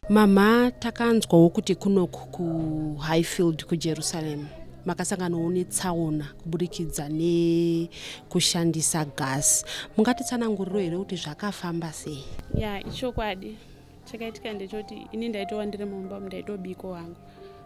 mama takanzwawo kuti kunoku kuhighfield kujerusalem makasanganawo netsaona kuburikidza nekushandisa gas mungatitsananguriro here kuti zvakafamba sei ya ichokwadi chakaitika ndechoti ini ndaitova ndiri mumba ndaitobiko wangu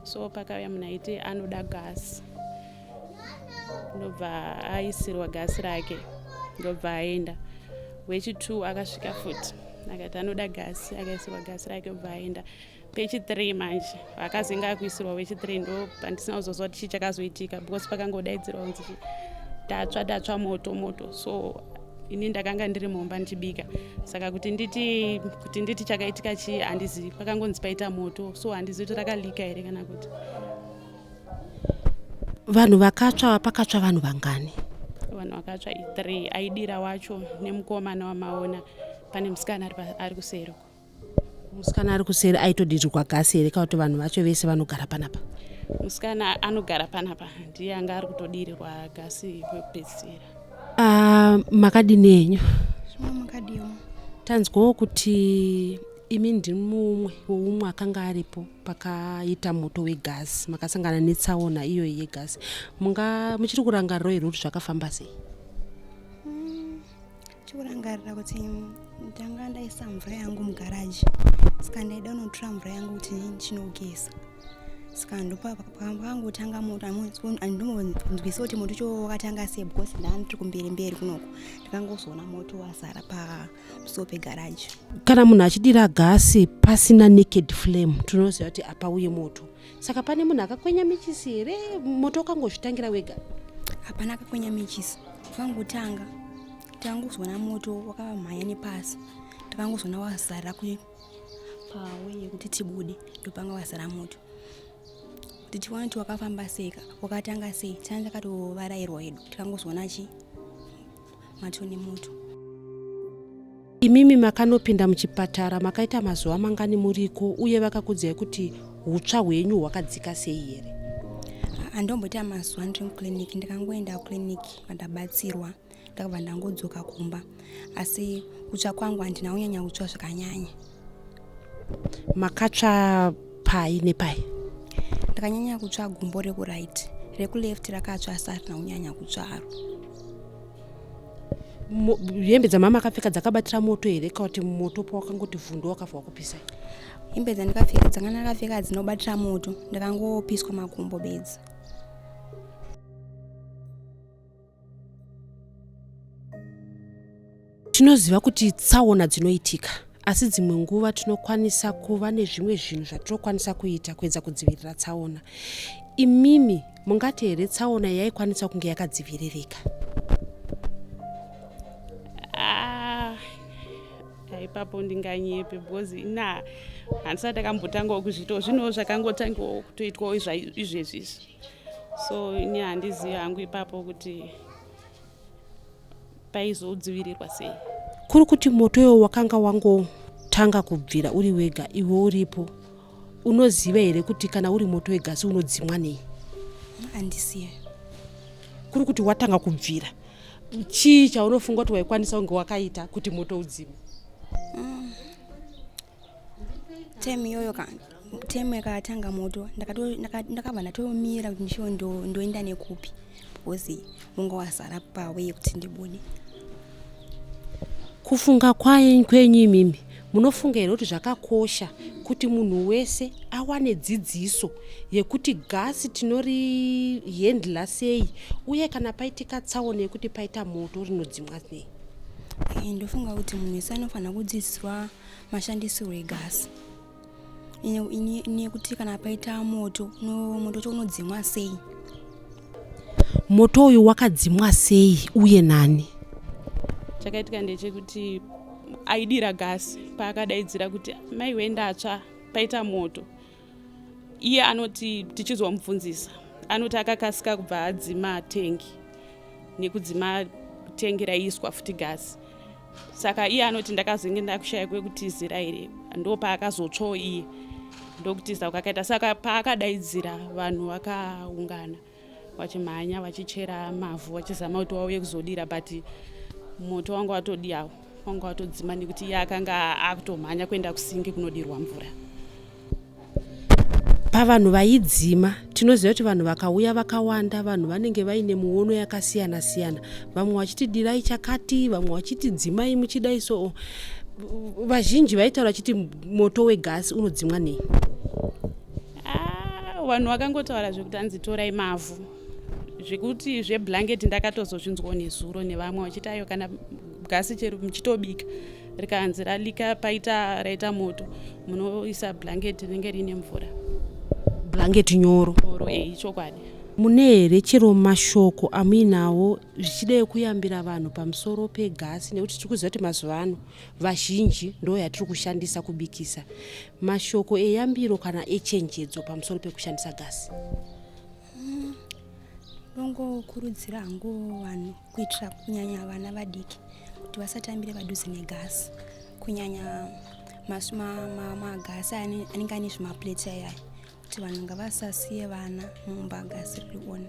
so pakauya munhu aiti anoda gasi ndobva aisirwa gasi rake ndobva aenda wechitwo akasvika futi akati anoda gasi akaisirwa gasi rake obva aenda pechithree manje akazinge akuisirwa wechithree ndo pandisina kuzoziva kuti chii chakazoitika because pakangodaidzirwa kunzi tatsva tatsva moto moto so ini ndakanga ndiri mumba ndichibika saka kuti nditi kuti nditi chakaitika chii handizivi pakangonzi paita moto so handizivi kuti rakalika here kana kuti vanhu vakatsva pakatsva vanhu vangani vanhu vakatsva i3 aidira wacho nemukomana wamaona pane musikana ari kuseri uko musikana ari kuseri aitodirirwa gasi here kana kuti vanhu vacho vese vanogara panapa musikana anogara panapa ndiye anga ari kutodirirwa gasi kwekupedzisira uh, ah, makadini enyu makadiwa tanzwawo kuti imi ndimumwe weumwe akanga aripo pakaita moto wegasi makasangana netsaona iyoyi yegasi munga muchiri kurangariro here kuti zvakafamba sei mm, chikurangarira kuti ndanga ndaisa mvura yangu mugaraji saka ndaida unotora mvura yangu kuti ndinogeza saka ndopakangotanga moto andimbonzwisa kuti moto choo wakatanga sei because ndaandiri kumberi mberi kunoko ndikangozoona moto wazara pamusoo pegaraji kana munhu achidira gasi pasina naked flame tinoziva kuti apa uye moto saka pane munhu akakwenya michisi here moto ukangozvitangira wega hapana akakwenya michisi vakangotanga takangozona moto wakavamhanya nepasi takangozona wazara pawe yekuti tibude ndopanga wazara moto tichiona kuti wakafamba seka wakatanga sei tanga takatovarairwa hedu tikangozona chii mato nemoto imimi makanopinda muchipatara makaita mazuva mangani muriko uye vakakudzai kuti utsva hwenyu hwakadzika sei here andomboita mazuva ndiri muclinic ndikangoenda kuclinic vandabatsirwa ndakabva ndangodzoka kumba asi kutsva kwangu handina kunyanya kutsva zvakanyanya makatsva pai nepai ndakanyanya kutsva gumbo rekuright rekuleft rakatsva asi arina kunyanya kutsvaro hembe dzamama akapfeka dzakabatira moto here ka kuti moto pawakangoti vhundu wakafa wakupisa hembe dzandikapfeka dzanga ndakapfeka dzinobatira moto ndakangopiswa makumbo bedzi tinoziva kuti tsaona dzinoitika asi dzimwe nguva tinokwanisa kuva nezvimwe zvinhu zvatinokwanisa kuita kuedza kudzivirira tsaona imimi mungati here tsaona yaikwanisa kunge yakadziviririka ah, ipapo ndinganyepe because ina handisati akambotangawo kuzviitawo zvinhuwo zvakangotangawo kutoitwawo izvezvizvi so ini handizivi hangu ipapo kuti paizodzivirirwa sei kuri kuti moto iwo wakanga wangotanga kubvira uri wega iwe uripo unoziva here kuti kana uri moto wegasi unodzimwa nei andisiye kuri kuti watanga kubvira chii chaunofunga kuti waikwanisa kunge wakaita kuti moto udzime mm. time iyoyo ka time yakatanga moto ndakabva ndatomira kuti ndishiwo ndoenda nekupi because munga wazara pawe yekuti ndibude kufunga kwaye kwenyu imimi munofunga here kuti zvakakosha kuti munhu wese awane dzidziso yekuti gasi tinorihendla sei uye kana paitika tsaona yekuti paita moto rinodzimwa nei ndofunga kuti munhu wese anofanira kudzidziswa mashandisirwo egasi nekuti kana paita moto moto cho unodzimwa sei moto uyu wakadzimwa sei uye nani chakaitika ndechekuti aidira gasi paakadaidzira kuti mai wendatsva paita moto iye anoti tichizomubvunzisa anoti akakasika kubva adzima tengi nekudzima tengi raiiswa futi gasi saka iye anoti ndakazenge ndakushaya kwekutizira here ndo paakazotsvawo iye ndokutiza kwakaita saka paakadaidzira vanhu vakaungana vachimhanya vachichera mavhu vachizama kuti wauye kuzodira but moto wanga watodiyawo wanga watodzima nekuti iye akanga akutomhanya kuenda kusingi kunodirwa mvura pavanhu vaidzima tinoziva kuti vanhu vakauya vakawanda vanhu vanenge vaine muono yakasiyana siyana vamwe vachiti dirai chakati vamwe vachiti dzimai muchidai soo vazhinji vaitaura vachiti moto wegasi unodzimwa nei Ah, vanhu vakangotaura zvekuti anzi torai mavhu zvekuti zveblanket ndakatozozvinzwawo nezuro nevamwe vachiti ayo kana gasi chero muchitobika rikanzi ralika paita raita moto munoisa blanket rinenge riine mvura blanket nyoro nyoro e ichokwadi mune here chero mashoko amuinawo zvichidei kuyambira vanhu pamusoro pegasi nekuti tiri kuziva kuti mazuva ano vazhinji ndo yatiri kushandisa kubikisa mashoko eyambiro kana echenjedzo pamusoro pekushandisa gasi mm, ndongokurudzira hangu vanhu kuitira kunyanya vana vadiki kuti vasatambire padhuze negasi kunyanya magasi anenge ane zvimapleti ayaya kuti vanhu ngavasasiye vana mumba gasiri kuona